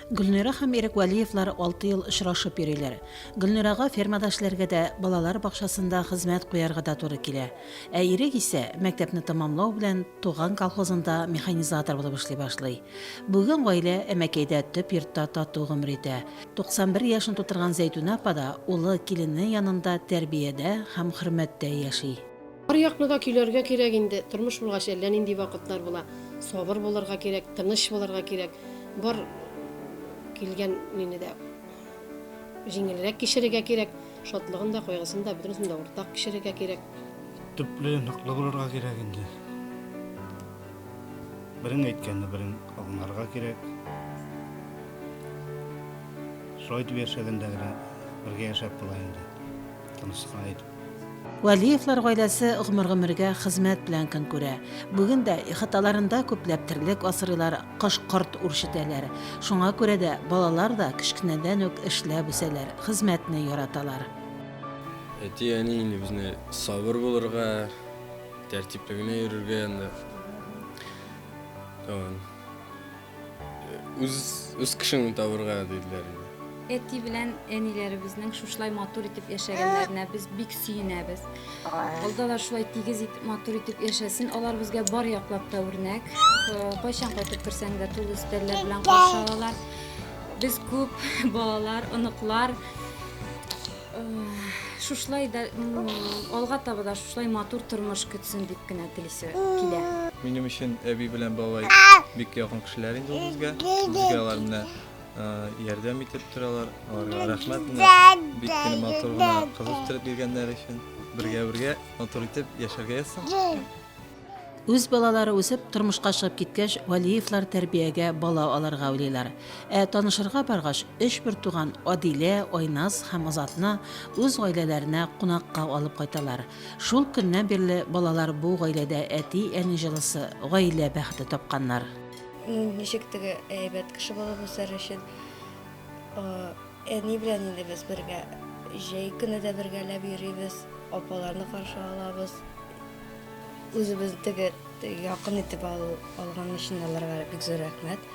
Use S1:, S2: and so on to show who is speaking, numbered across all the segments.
S1: Гөлнира һәм Ирек Вәлиевлар алты ел очрашып йөриләр. Гөлнирага фермада эшләргә дә, балалар бакчасында хезмәт куярга да туры килә. Ә Ирек исә, мәктәпне тәмамлау белән, туган колхозында механизатор булып эшли башлый. Бүген гаилә Әмәкәйдә төп йортта тату гомер итә. 91 яшен тутырган Зәйтүнә апа да улы, килене янында тәрбиядә һәм хөрмәттә яши. Аръякны да
S2: көйләргә кирәк инде, тормыш булгач әллә нинди вакытлар була. Сабыр булырга кирәк, тыныч булырга кирәк. Бар килгән нине дә җиңелрәк кичерергә кирәк. Шатлыгын да, кайгысын да, бөтенесен дә уртак кичерергә кирәк. Төпле,
S3: ныклы булырга кирәк инде. Берең әйткәнне берең аңларга кирәк. Шулай итеп яшәгәндә генә бергә яшәп була инде. Тынычлыкны әйтеп. Вәлиевлар
S1: гаиләсе гомер-гомергә хезмәт белән көн күрә. Бүген дә ихаталарында күпләп терлек асрыйлар, кош-корт үрчетәләр. Шуңа күрә дә балалар да кечкенәдән үк эшләп үсәләр, хезмәтне яраталар.
S4: Әти-әни инде безне сабыр булырга, тәртипле генә йөрергә анда. Тагын. Үз, үз кешеңне табырга диделәр инде. Әти белән
S5: әниләребезнең шушылай матур итеп яшәгәннәренә без бик сөенәбез. Алда да шулай тигез итеп матур итеп яшәсен. Алар безгә бар яклап та үрнәк. Э, Кайчан кайтып керсәң дә тулы өстәлләр белән каршы алалар. Без күп балалар, оныклар. Шушлай да алга таба да шушлай матур тормыш көтсен дип кенә телисе килә. Минем өчен әби
S6: белән бабай бик якын кешеләр инде ул безгә. Безгә алар менә ярдәм итеп торалар. Аларга рәхмәт менә бик кенә матур гына кыз үстереп биргәннәре өчен. Бергә-бергә матур итеп яшәргә язсын. Үз
S1: балалары үсеп, тормышка чыгып киткәч, Вәлиевлар тәрбиягә бала алырга уйлыйлар. Ә танышырга баргач, өч бертуган, Адилә, Айназ һәм Азатны үз гаиләләренә кунакка алып кайталар. Шул көннән бирле балалар бу гаиләдә әти-әни җылысы, гаилә бәхете тапканнар. Ничек
S7: теге әйбәт кеше булып үсәр өчен Әни белән инде без бергә җәй көне дә бергәләп йөрибез, апаларны каршы алабыз. Үзебезне теге якын итеп алу алган өчен аларга бик зур рәхмәт.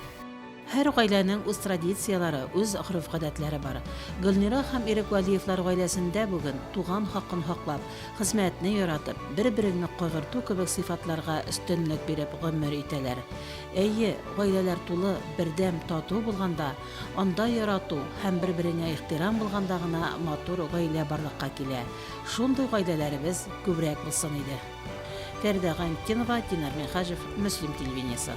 S7: Һәр
S1: гаиләнең үз традицияләре, үз гореф-гадәтләре бар. Гөлнира һәм Ирек Вәлиевлар гаиләсендә бүген туган хакын хаклап, хезмәтне яратып, бер-береңне кайгырту кебек сыйфатларга өстенлек биреп гомер итәләр. Әйе, гаиләләр тулы, бердәм, тату булганда, Анда ярату һәм бер-береңә ихтирам булганда гына матур гаилә барлыкка килә. Шундый гаиләләребез күбрәк булсын иде. Фәридә Гайнтдинова, Динар Минһаҗев, Мөслим телевидениесе.